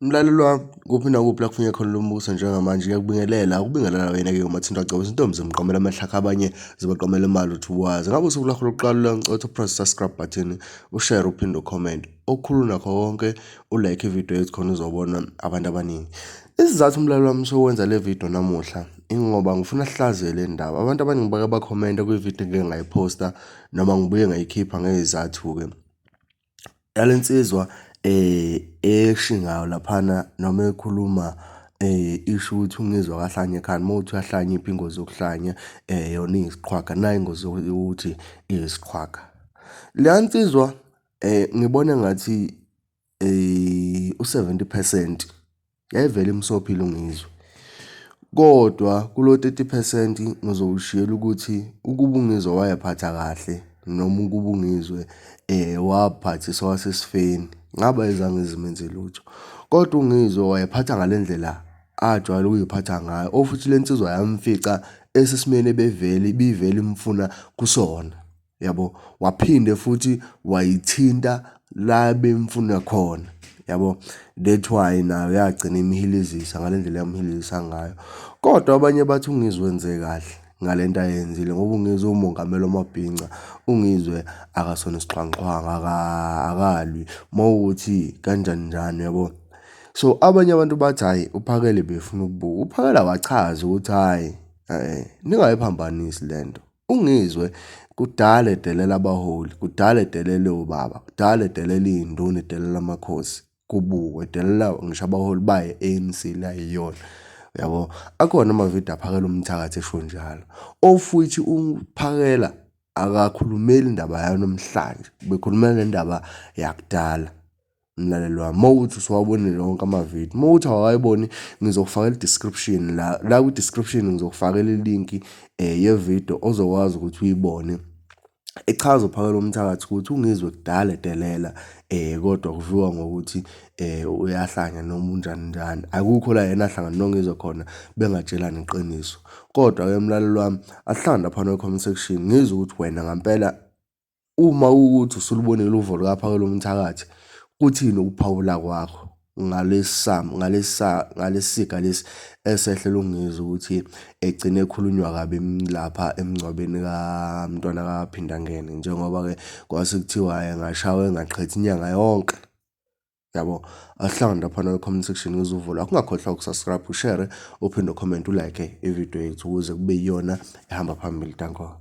Mlaleli wami, kuphi nakuphi la kufunye khona lo mbuso njengamanje ngiyakubingelela, ukubingelela wena-ke uMathinta Gcobeka. Izintombi zimqomela amahlakha abanye zibaqomela imali uthi wazi. Ngabe usuku lakho lokuqala uyancotha upress subscribe button, ushare uphinde ucomment. Okukhulu nakho konke ulike ividiyo yethu khona uzobona abantu abaningi. Isizathu umlaleli wami sokwenza le vidiyo namuhla ingoba ngifuna sihlaziye le ndaba. Abantu abaningi bake bakhomenta kwividiyo engike ngayiphosta noma ngibuye ngayikhipha ngezizathu-ke. Yale nsizwa eshi ngayo laphana noma ekhuluma isho ukuthi ungizwa kahlanya ekhanda, uma kuwukuthi uyahlanya iphi ingozi yokuhlanya yona iyisiqhwaga, nayi ingozi yokuthi iyisiqhwaga. Leya nsizwa ngibona engathi u-seventy phesenti. Yayivele imsophile uNgizwe. Kodwa kulo 30 percent ngizowushiyela ukuthi ukuba uNgizwe wayephatha kahle noma ukuba uNgizwe eh waphathisa wasesifeni ngaba ezange zimenze lutho. Kodwa uNgizwe wayephatha ngale ndlela ajwayele ukuyiphatha ngayo ofuthi le nsizwa yamfica esesimeni ebevele ibivele imfuna kusona. yabo waphinde futhi wayithinta la bemfuna khona yabo that's why nayo yagcina imhilizisa ngale ndlela yamhilizisa ngayo kodwa abanye bathi ungizwenze kahle ngale nto ayenzile ngoba ungizwe umongameli omabhinca ungizwe akasona isixhwanxhwanga akalwi uma ukuthi kanjani njani yabo so abanye abantu bathi hhayi uphakele befuna ukubuka uphakela wachaza ukuthi hhayi um ningayiphambanisi le nto UNgizwe kudala edelela abaholi, kudala edelele obaba, kudala edelela iy'nduna, edelela amakhosi, kubukwe edelela ngisho abaholi bayo i-ANC le ayiyona. Uyabo? Akhona amavidiyo aphakela umthakathi esho njalo. Ofuthi uphakela akakhulumeli indaba yanamhlanje, ubekhulumela ngendaba yakudala. mlaleli wami uma ukuthi usuwabonile wonke amavidiyo uma ukuthi awayiboni ngizokufakela i-description la la kwi-description ngizokufakela ilinki um yevidiyo ozokwazi ukuthi uyibone echaza uphakela umthakathi ukuthi ungizwe kudala edelela eh kodwa kuviwa ngokuthi eh uyahlanya noma unjani njani akukho la yena ahlangana nongizwe khona bengatshelani iqiniso kodwa ke mlalelo wami asihlangana phana comment section ngizwe ukuthi wena ngampela Uma kuwukuthi usulubonile uvo lukaPhawula umthakathi, kuthini ukuphawula kwakho ngalesiga lesi esehlele uNgizwe ukuthi egcine ekhulunywa kabi lapha emngcwabeni kaMntwana kaPhindangene njengoba-ke kwase kuthiwa engashawa engaqhethi inyanga yonke? Yabo, asihlangane laphana kwi-comment section ngizwe uvo lwakho. Ungakhohlwa uku-subscribe, ushere, uphinde ucomment, ulike ividiyo yethu ukuze kube yiyona ehamba phambili. Danko.